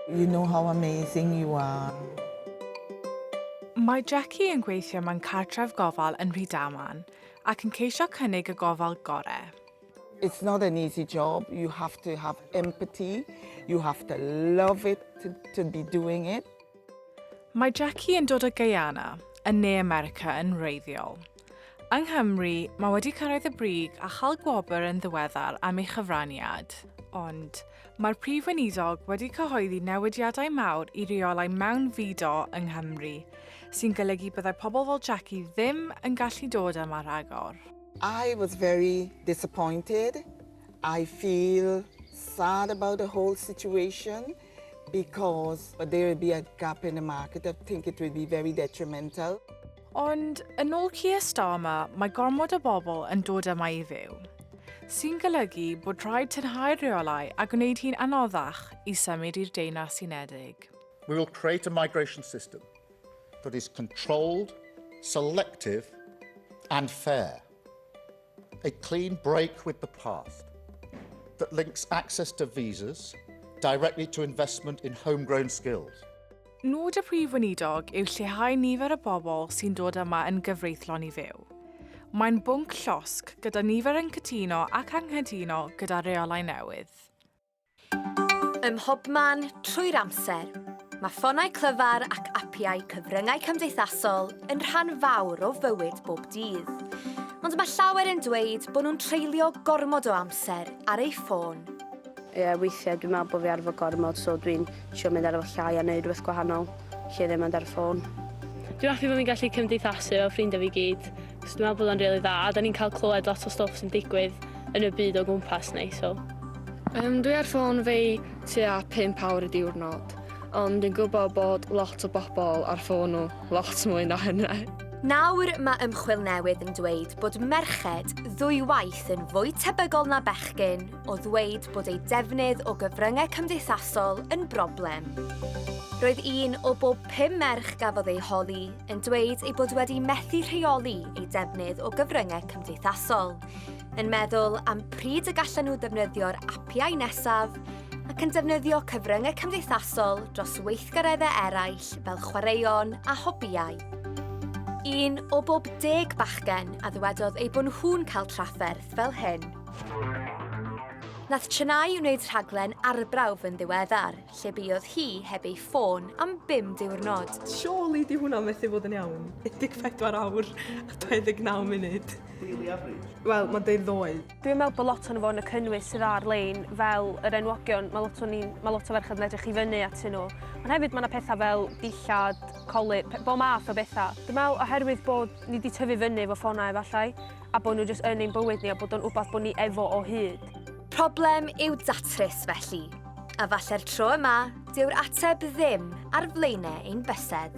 You know how amazing you are. Mae Jackie yn gweithio mewn cartref gofal yn Rhydaman ac yn ceisio cynnig y gofal gorau. It's not an easy job, you have to have empathy, you have to love it to, to be doing it. Mae Jackie yn dod o Guyana, yn ne America yn wreiddiol. Yng Nghymru, mae wedi cyrraedd y brig a chael gwobr yn ddiweddar am ei chyfraniad, ond Mae'r Prif Weinidog wedi cyhoeddi newidiadau mawr i reolau mewnfudo yng Nghymru, sy'n golygu byddai pobl fel Jackie ddim yn gallu dod yma rhagor. I was very disappointed, I feel sad about the whole situation because there will be a gap in the market, I think it will be very detrimental. Ond, yn ôl Keir Starmer, mae gormod o bobl yn dod yma i fyw, sy'n golygu bod rhaid tynhau'r rheolau a gwneud hi'n anoddach i symud i'r Deyrnas Unedig. We will create a migration system that is controlled, selective and fair. A clean break with the past that links access to visas directly to investment in homegrown skills. Nod y Prif Weinidog yw lleihau nifer y bobl sy'n dod yma yn gyfreithlon i fyw. Mae'n bwnc llosg gyda nifer yn cytuno ac anghytuno gyda reolau newydd. Ym mhobman, trwy'r amser, mae ffonau clyfar ac apiau cyfryngau cymdeithasol yn rhan fawr o fywyd bob dydd. Ond mae llawer yn dweud bod nhw'n treulio gormod o amser ar eu ffôn. Ie, weithiau dwi'n meddwl bod fi ar fy gormod, so dwi'n trio mynd ar fy llai a wneud rhywbeth gwahanol lle ddim mynd ar y ffôn. Dwi'n hoffi bod fi'n gallu cymdeithasu efo ffrindiau fi gyd. So dwi'n meddwl bod o'n rili dda a 'dan ni'n cael clywed lot o stwff sy'n digwydd yn y byd o gwmpas ni so. Um, dwi ar ffôn fi tua 5 awr y diwrnod, ond dwi'n gwybod bod lot o bobl ar ffôn nhw lot mwy na hynny. Nawr mae ymchwil newydd yn dweud bod merched ddwywaith yn fwy tebygol na bechgyn o ddweud bod eu defnydd o gyfryngau cymdeithasol yn broblem. Roedd un o bob pum merch gafodd ei holi yn dweud ei bod wedi methu rheoli ei defnydd o gyfryngau cymdeithasol, yn meddwl am pryd y gallan nhw ddefnyddio'r apiau nesaf, ac yn defnyddio cyfryngau cymdeithasol dros weithgareddau eraill fel chwaraeon a hobïau. Un o bob deg bachgen a ddywedodd ei bod nhw'n cael trafferth fel hyn. Nath Chennai wneud rhaglen arbrawf yn ddiweddar, lle buodd hi heb ei ffôn am bum diwrnod. Surely di hwnna methu bod yn iawn. 14 awr a 29 munud. Really average. Wel, mae'n deud ddoe. Dwi'n meddwl bod lot o'n fo yn y cynnwys sydd ar-lein, fel yr enwogion, mae lot, ni, mae lot o ferched yn edrych i fyny atyn nhw. Ond hefyd mae yna pethau fel dillad, coli, bo math o bethau. Dwi'n meddwl oherwydd bod ni wedi tyfu fyny efo ffonau efallai, a bod nhw jyst yn ein bywyd ni a bod o'n wbath bod ni efo o hyd. Problem i'w datrys felly, a falle'r tro yma, dyw'r ateb ddim ar flaenau ein bysedd.